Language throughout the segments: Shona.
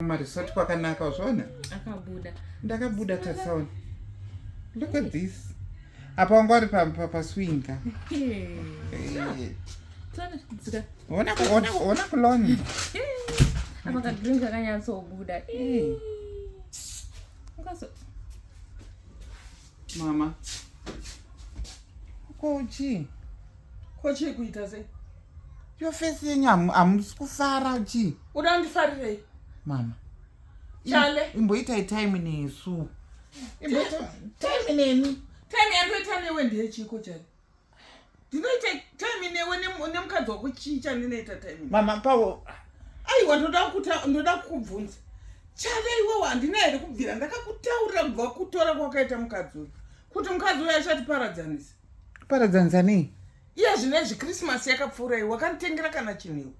kumaresort kwakanaka wazviona akabuda ndakabuda tatsaona look at this apa wanga wari paswinga ona kulona apa kadrink kakanyatsobuda Mama. Ko chii? Ko chii kuita sei? Yo face yenyu hamusi kufara chii? Uda kundifarirei? Mama. Chale. Imboitai time nesu. Imboita time nemi. Time yandoita newe ndeyechiko chale. ndinoita time newe nemukadzi wako chii chandinoita time mama pawo aiwa ndoda kuta ndoda kukubvunza chave iwewo handina here kubvira ndakakutaurira kubva kutora kwakaita mukadzi uyu kuti mukadzi uyu achatiparadzanisa paradzanisa nei iye zvino izvi krismasi yakapfuura iwe wakanditengera kana chinhu iwe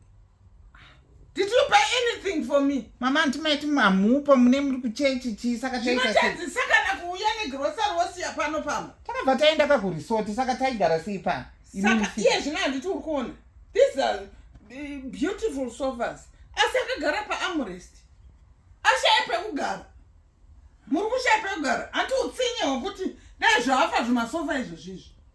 Did you buy anything for me? Mama anti maiti mamupa mune muri kuchechi chii saka taitazisa kana kuuya negrocery wosiya pano pamwe. Takabva taenda ka kuresort saka taigara sei pano? Saka iye zvino handiti uri kuona. These are eh, beautiful sofas. Asi akagara paarmrest. Ashaye pekugara. Muri kushaya pekugara. Hanti utsinye hwekuti dai zvaafa zvimasofa izvozvizvi.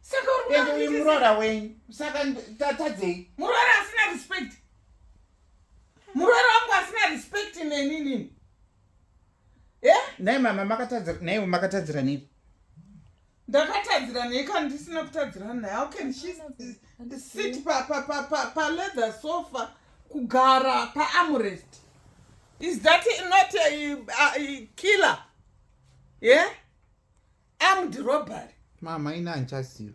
saka ende uyu muroora wenyu saka tatadzei muroora asina respect muroora wangu asina respect neni nini e nai mama makatadzira naiwe makatadzira nei ndakatadzira nei kana ndisina kutadzira naye how can she sit paleather sofa kugara paamrest is that not a, a, a killer yeah armed robbery mama ini handichaziva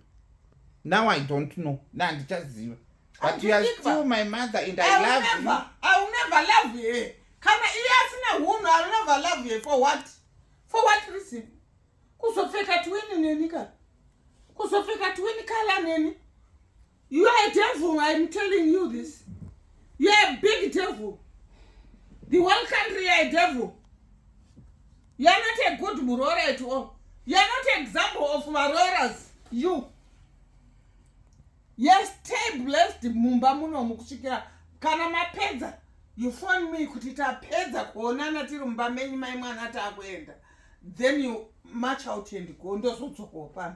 now i don't know na handichaziva but you are still my mother and i love you i will never love you kana iye asina hunhu i will never love you for what for what reason kuzopfeka twini neni ka kuzopfeka twini kala neni You are a devil, I am telling you this. You are a big devil. The whole country are a devil. You are not a good murora at all. You are not an example of maroras. You. Yes, stay blessed mumba muno mukusvikira kana mapedza you phone me kuti tapedza kuonana tiri mumba menyu mai mwana taakuenda then you march out and go ndozodzokawo pano